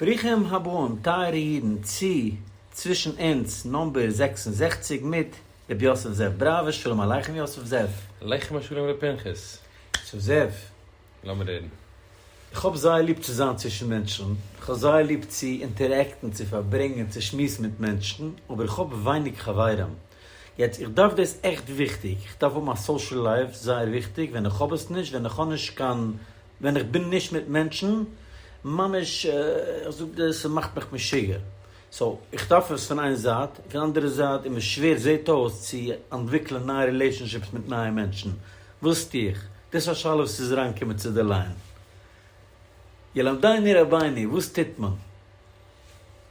ברוכים הבאים טייערע אידן צו צווישן אונז נאמבער זעקס און זעכציק מיט רבי יוסף זאב בראווער שלום עליכם יוסף זאב. עליכם השלום ר' פנחס. יוסף זאב. לאמיר רעדן. איך האב זייער ליב צו זיין צווישן מענטשן, איך האב זייער ליב צו אינטערעקטן, צו פארברענגען, צו שמועסן מיט מענטשן, אבער איך האב ווייניג חברים. יעצט, איך דארף דאס עכט וויכטיג, איך דארף האבן א סאושעל לייף, זייער וויכטיג, ווען איך האב עס נישט, ווען איך האב נישט קיין ווען איך בין נישט מיט מענטשן, ממש איך זאג דיר ס'מאכט מיך משוגע, סאו איך דארף עס פון איין זייט, און פון אנדערע זייט איז מיר שווער זעהט אויס צו אנטוויקלען נייע רילעישאנשיפס מיט נייע מענטשן, וואס טו איך? דאס איז א שאלה וואס איז אריינגעקומען צו די ליין. ילמדני רבינו, וואס טוט מען?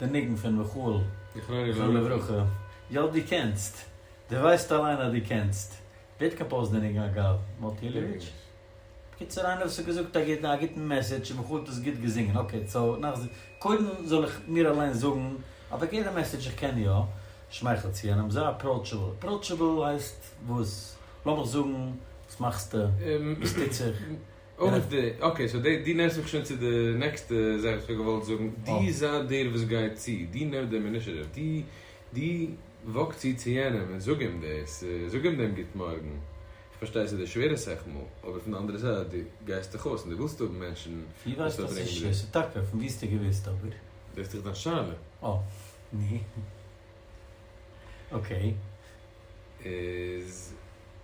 די ניגון פון מיכאל זכרונו לברכה, יא דו קענסט, דו ווייסט אליין אז דו קענסט, ווער האט קאמפאוזט די ניגון אגב? מוטי אילעוויטש? בקיצור איינער וואס האט געזאגט א גוטן א גוטן מעסעדזש און מיכאל האט עס גוט געזינגען, אקעי סאו נאך קודם זאל איך מיר אליין זאגן א פארגעסענע מעסעדזש איך קען יא, שמייכל צו יענעם, זיי אפראוטשעבל, אפראוטשעבל הייסט וואס? לאמיך זאגן וואס מאכסטו? וואס טוט זיך? אויף די, אקעי סאו די, דו נערסט מיך שוין צו די נעקסטע זאך וואס כ'האב געוואלט זאגן, דו זיי דער וואס גייט צו, דו נעם דעם אינישעטיוו, דו, דו וואק צו צו יענעם און זאג אים דאס, זאג אים דעם גוט מארגן, כ'פארשטיי ס'איז דיר שווער א סאך מאל, אבער פון די אנדערע זייט דו גייסט דאך אויס און דו ווילסט האבן מענטשן וואס פארברענגען מיט דיר. טאקע, פון וואו האסטו געוואוסט אבער? דאס איז דאך דיין שאלה. אה, נו. אקעי. איז,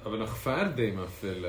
אבער נאך פארדעם אפילו.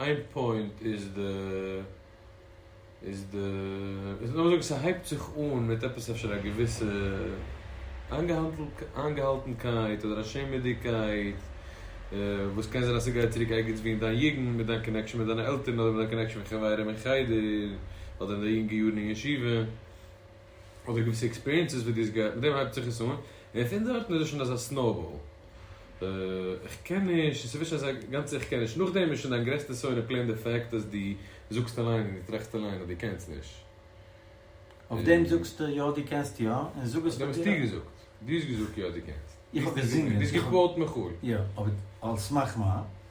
איין פוינט איז די איז די איז לאמיר זאגן ס'הייבט זיך אן מיט עפעס אפשר א געוויסע איינגעהאלטנקייט אדער א שעמעדיגקייט וואס קען זיין אז ס'גייט צוריק ערגעץ ווי אין דיין יוגנט מיט דיין קאנעקשאן מיט דיינע עלטערן אדער מיט דיין קאנעקשאן מיט חברים אין חדר אדער אין די יונגע יארן אין ישיבה אדער געוויסע עקספיריענסעס וואס דו האסט געהאט מיט דעם הייבט זיך עס אן און פון דארטן איז עס שוין אזא סנאובאל איך קען נישט און ס'ווערט שוין אזא גאנצע איך קען נישט נאכדעם איז שוין דיין גרעסטע שונא פלעין די פעקט אז דו זאגסט אליין און דו טראכסט אליין אז דו קענסט נישט אויף דעם און זאגסטו יא דו קענסט יא און זאג עס אויף דעם פאר האסטו דיר געזאגט דו האסט געזאגט יא דו קענסט איך האב געזינגען דו האסט געקוואוט מחול יא אבער על סמך מה?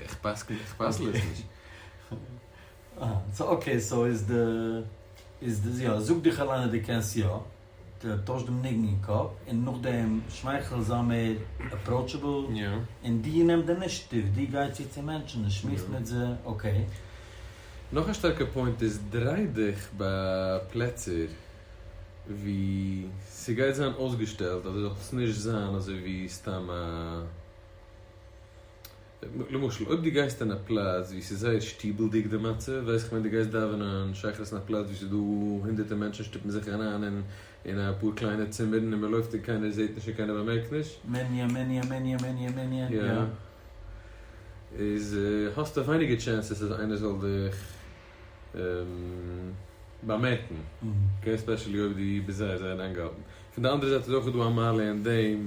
איך פסק'ן, איך פסל עס נישט. אה, סאו אקעי, סאו איז די, איז די, יא, זאג דיך אליין אז דו קענסט יא. ט, טויש דעם ניגון אין קאפ, און נאכדעם שמייכל, זיי מער אפראוטשעבל. יא. און דו נעם די אינישעטיוו, דו גיי צו צו מענטשן און שמועס מיט זיי, אקעי? נאך א שטארקע פוינט איז, דריי דיך ביי פלעצער וואו ס'גייט זיין אויסגעשטעלט אז דו זאלסט נישט זיין אזוי ווי סתם א. למשל אויב דו גייסט אין א פלאץ ווי ס'איז זייער שטיבל'דיג די מצב, ווייס איך ווען דו גייסט דאווענען שחרית אין א פלאץ ווי ס'איז דא הונדערטער מענטשן שטופן זיך אריין אין אפאר קליינע צימערן און מ'לויפט און קיינער זעט נישט און קיינער באמערקט נישט, מעניא מעניא מעניא מעניא מעניא, יא. איז האסטו ווייניגער טשענסעס אז איינער זאל דיך באמערקן, אקעי, עספעשעלי אויב דו ביסט זייער זייער איינגעהאלטן. פון די אנדערע זייט איז אויך דא א מעלה אין דעם.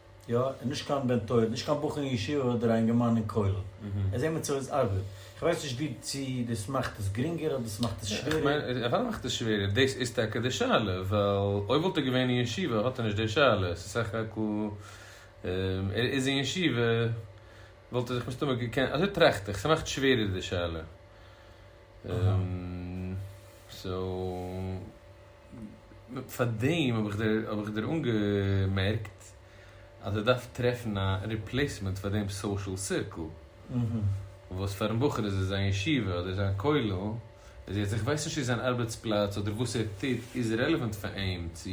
יא, און נישט קיין בן תורה, נישט קיין בחור אין ישיבה אדער א אינגערמאן אין כולל. ער זעהט מיר צו עס ארבעט. איך ווייס נישט ווי צו דאס מאכט עס גרינגער אדער עס מאכט עס שווערער. אוודאי מאכט עס שווערער, דאס איז טאקע די שאלה, ווייל אויב וואלט ער געווען אין ישיבה האט ער נישט די שאלה, עס איז סך הכל ער איז אין ישיבה וואלט ער זיך מסתמא געקענט, אזוי טראכט איך, ס'מאכט שווערער די שאלה. סאו. פאר דעם האב איך דיר אנגעמערקט אז ער דארף טרעפן א ריפלעיסמענט פאר דעם סאושעל סירקל, וואס פארן בחור איז עס זיין ישיבה אדער זיין כולל, איז יעצט, איך ווייס נישט צו זיין ארבעטס פלאץ אדער וואס ער טוט איז רעלעווענט פאר אים צו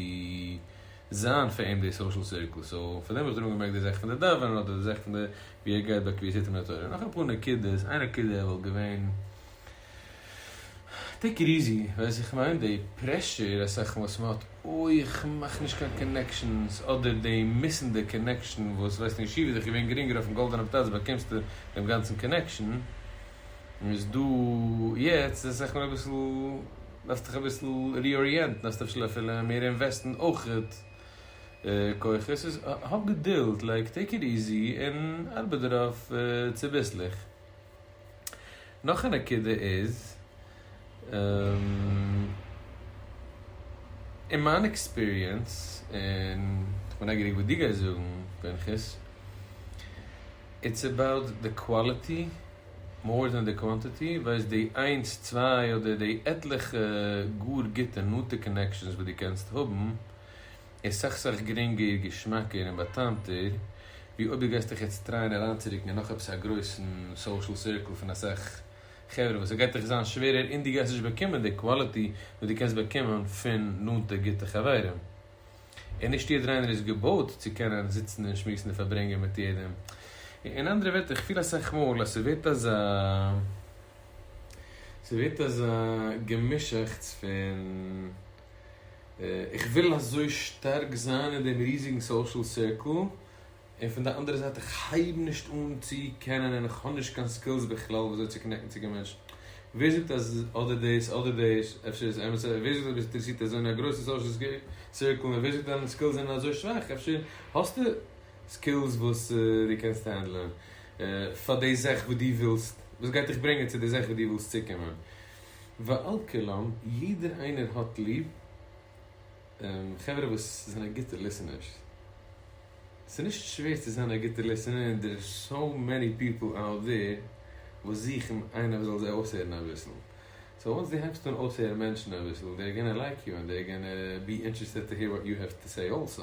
זיין פאר אים די סאושעל סירקל, סאו פאר דעם האב איך דיר אנגעמערקט די זאך פון די דאווענען אדער די זאך פון די ווי ער גייט ביי קביעות עתים לתורה, נאך אפאר נקודות, איין נקודה וואלט געווען. טעיק איט איזי, ווייס איך מיין די פרעשור אסאך וואס מען האט אוי איך מאך נישט קיין קאנעקשאנס אדער די מיסענדע קאנעקשאן וואס ווייסט אין ישיבה איז דאך געווען גרינגער אויפן גאלדענעם פלאץ באקומסטו דעם גאנצן קאנעקשאן איז דא יעצט איז אסאך מער אביסל דארפסט דיך אביסל ריאריענטן דארפסט אפשר אפילו מער אינוועסטן אויכעט כוחות סאיז האב געדולד לייק טעיק איט איזי און ארבעט דערויף צוביסלעך. נאך א נקודה איז, אין מיין עקספיריענס, און כ'בין נייגעריג וואס דו גייסט זאגן פנחס, איטס אבאוט די קוואליטי מאר דען די קוואנטיטי, ווייסט די איינס צוויי אדער די עטליכע גאר גוטע נאנטע קאנעקשאנס וואס דו קענסט האבן, איז סך סך גרינגער, געשמאקער און באטאמטער, ווי אויב דו גייסט דיך יעצט טרייען אריינצורוקן אין נאך עפעס א גרויסן סאושעל סירקל פון אסאך חברה וואס ס'גייט דיך זיין שווערער און דו גייסט נישט באקומען די קוואליטי וואס דו קענסט באקומען פון נאנטע גוטע חברים. און נישט יעדער איינער איז געבויט צו קענען זיצן און שמועסן און פארברענגען מיט יעדעם. אין אנדערע ווערטער, איך פיל אסאך מאל אז ס'ווערט אזא ס'ווערט אזא געמישאכטס פון. איך וויל אזוי שטארק זיין אין דעם ריזיגן סאושעל סירקל, און פון די אנדערע זייט איך הייב נישט אן צו קענען און איך האב נישט קיין סקילס בכלל ווי אזוי צו קאנעקטן צו קיין מענטשן. ווער זאגט אז אדער דאס אדער דאס, אפשר איז אמת און ווער זאגט אז ביסט אינטערעסירט אזוי אין א גרויסן סאושעל סירקל און ווער זאגט אז דיינע סקילס זענען אזוי שוואך, אפשר האסטו סקילס וואס דו קענסט הענדלען פאר די זאך וואס דו ווילסט, וואס גייט דיך ברענגען צו די זאך וואס דו ווילסט צוקומען. ועל כולם, יעדער איינער האט ליב חברה וואס זענען גוטע ליסענערס. ס'איז נישט שווער צו זיין א גוטע ליסענער און דער איז סאו מעני פיפל אוט דער וואס זוכן איינער וואס זאל זיי אויסהערן אביסל. סאו וואנס דו הייבסט אן אויסהערן מענטשן אביסל, דער גאנא לייק יו און דער גאנא בי אינטערעסטעד טו העיר וואט יו העוו טו סעי אלסא.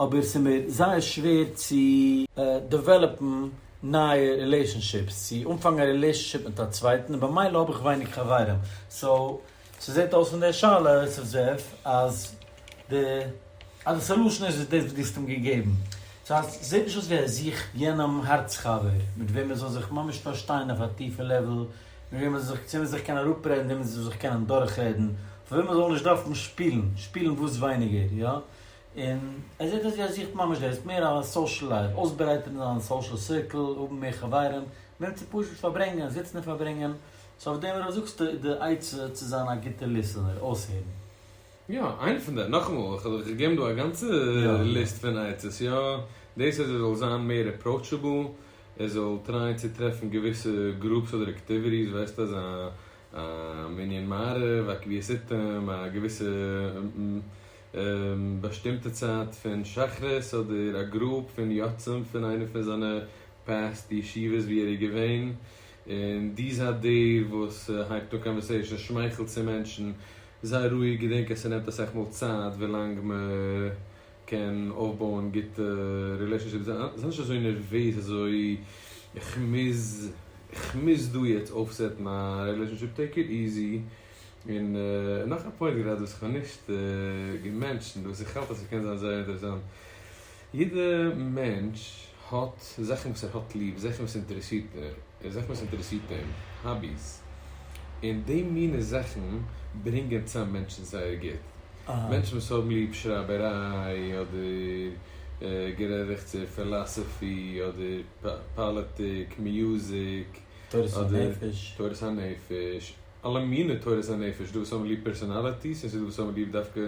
אבער ס'איז מיר זייער שווער צו דעוועלאפן נייע רילעישאנשיפס, צו אנפאנגן א רילעישאנשיפ מיט א צווייטן, און במילא האב איך ווייניג חברים, סאו ס'זעט אויס פון די שאלה אסף זאב אז די סעלושען איז דאס וואס דו האסט אים געגעבן, סאו עס זעט נישט אויס ווי ער זוכט יענעם הארץ חבר מיט וועם ער זאל זיך ממש פארשטיין אויף א טיפע לעוועל, מיט וועם ער זאל זיך צו וועם ער זאל זיך קענען אראפרעדן, וועם ער זאל זיך קענען דורכרעדן, פאר וועם ער זאל נישט דארפן שפילן, שפילן וואס ווייניגער, יא? און ער זעט אז ער זוכט ממש דאס, מער א סאושעל לייף, אויסברייטערן זיין סאושעל סירקל, האבן מער חברים, מער צו פשוט פארברענגען, זיצן און פארברענגען, סאו אויף דעם וואס זאגסטו איז די עצה צו זיין א גוטע ליסענער, אויסהערן. יא, איינע פון די, נאכאמאל, איך האב דאך געגעבן דא א גאנצע ליסט פון עצות, יא, דאס אז ער זאל זיין מער אפראוטשעבל, ער זאל טרייען צו טרעפן געוויסע גרופס אדער אקטיוויטיס, ווייסט אזא מנין מעריב, א קביעות עיתים, א געוויסע. באשטימטע צייט פון שחרית אדער א גרופ פון יוצאים פון איינע פון זיינע פּעסט ישיבות ווי ער איז געווען און דו זיי דער וואס הייבט אן קאנווערסעישאן שמייכלט צו מענטשן זיי רואיג געדענק אז ס'נעמט אסאך מאל צייט ווילאנג מ'קען אויפבויען גוטע רילעישאנשיפס זיי נישט אזוי נערוועז אזוי איך מוז איך מוז דא יעצט אויפסעטן א רילעישאנשיפ טעיק איט איזי און נאך א פוינט גערעדט וואס איך האב נישט געמענטשענט וואס איך האלט אז ס'קען זיין זייער אינטערעסאנט. יעדע מענטש האט זאכן וואס ער האט ליב, זאכן וואס אינטערעסירט איר, און זאכן וואס אינטערעסירט אים, האביס. און די מינע זאכן ברענגען צאם מענטשן זייער גוט. מענטשן וואס האבן ליב שרייבעריי, אדער גערעכטסער פילאסעפי, אדער פאליטיק, מיוזיק, אדער תורת הנפש. אלע מיני תורת הנפש, ס'דא וואס האבן ליב פערסאנאליטיס און ס'דא וואס האבן ליב דווקא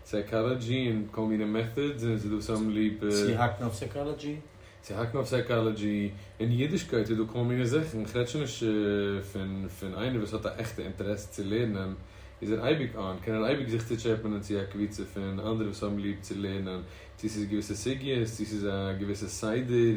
סייקאלאדזשי און כל מיני מעטאדס און ס'דא וואס האבן ליב. צו האקן אויף סייקאלאדזשי? צו האקן אויף סייקאלאדזשי, אין אידישקייט איז דא כל מיני זאכן, איך רעד שוין נישט פון פון איינער וואס האט א עכטע אינטערעס צו לערנען איז ער אייביג אן, קען ער אייביג זיך צוטשעפענען צו א קבוצה פון אנדערע וואס האבן ליב צו לערנען, צו ס'איז געוויסע סוגיות, צו ס'איז א געוויסע סדר.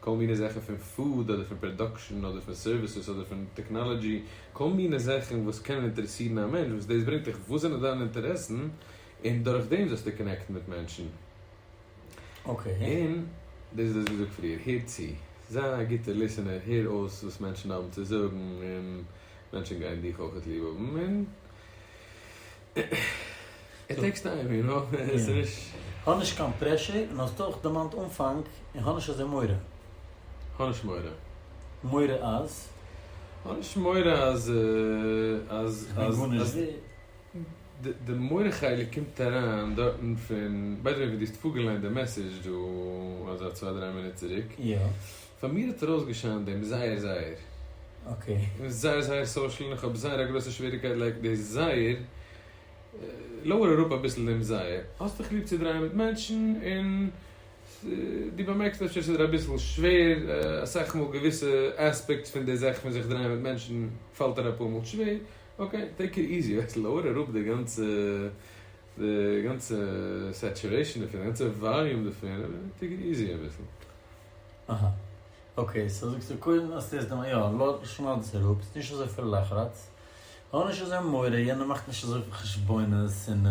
כל מיני זאכן פון פוד אדער פון פראדאקשן אדער פון סערוויסעס אדער פון טעקנאלעדזשי, כל מיני זאכן וואס קענען אינטערעסירן א מענטש וואס דאס ברענגט דיך וואס זענען דיינע אינטערעסן און דורך דעם זאלסטו קאנעקטן מיט מענטשן. און דאס איז דאס ווי געזאגט פריער, הער צו, זיי א גוטער ליסענער, הער אויס וואס מענטשן האבן צו זאגן און מענטשן גייען דיך אויך ליב האבן און איט טעיקס טיים יו נאו, עס איז נישט. האב נישט קיין פרעשור און האסט אויך דערמאנט אנפאנג און כ'האב נישט אזוי מורא. כ'האב נישט מורא. מורא אז? כ'האב נישט מורא אז אז אז אז די מורא חלק קומט אריין דארטן פון ביי די וועי ווי די האסט פארגעליינט די מעסעדזש דא אזא צוויי דריי מינוט צוריק פאר מיר האט ער אויסגעשיינט דעם זייער זייער. ער איז זייער זייער סאושעל און איך האב זייער א גרויסע שוועריקייט לייק די זייער. לויער אראפ אביסל דעם זייער. האסט דיך ליב צו דרייען מיט מענטשן און דו באמערקסט אפשר ס'איז דיר אביסל שווער אסאך מאל געוויסע עספעקטס פון די זאך פון זיך דרייען מיט מענטשן פאלט דיר אפאר מאל שווער. אקעי טעיק איט איזי אויס לויער אראפ די גאנצע די גאנצע סעטורעישן דערפון די גאנצע וואליום דערפון און טעיק איט איזי אביסל. אהא. אקעי סאו זאגסטו קודם אז ס'איז דעם יא לא שנייד עס אראפ ס'איז נישט אזויפיל לחרץ. האב נישט אזוי מורא יענער מאכט נישט אזויפיל חשבונות און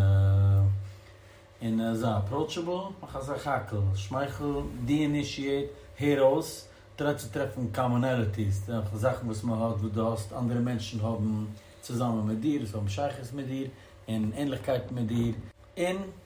און ער איז אפראוטשעבל מאך אזא כאקל שמייכל דיאינישיעט הער אויס טריי צו טרעפן קאמאנעליטיס דורך זאכן וואס מען האט וואס דו האסט אנדערע מענטשן האבן צוזאמען מיט דיר וואס האבן שייכות מיט דיר און ענליכקייטן מיט דיר און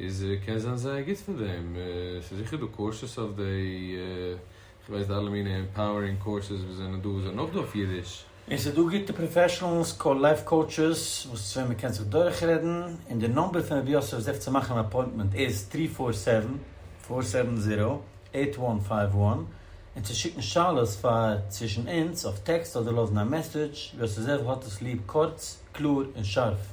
איז קען זיין זייער גוט פאר דעם, ס'איז זיכער דא קורסעס אויף דעי, כ'ווייס די אלע מינע עמפאוערינג קורסעס וואס זענען דא זענען אויך דא אויף אידיש. און ס'איז דא גוטע פראפעשענלס קאל לייף קאוטשעס וואס צו וועם מ'קען זיך דורכרעדן, און די נאמבער פון רבי יוסף זיך צו מאכן אן אפוינטמענט איז טרי פאר סעווען, פאר סעווען זירא, עיט וואן פייוו וואן, און צו שיקן שאלות פאר צווישן אונז אויף טעקסט אדער לאזן א מעסעדזש, יוסף זאב האט עס ליב קורץ, קלאר און שארף.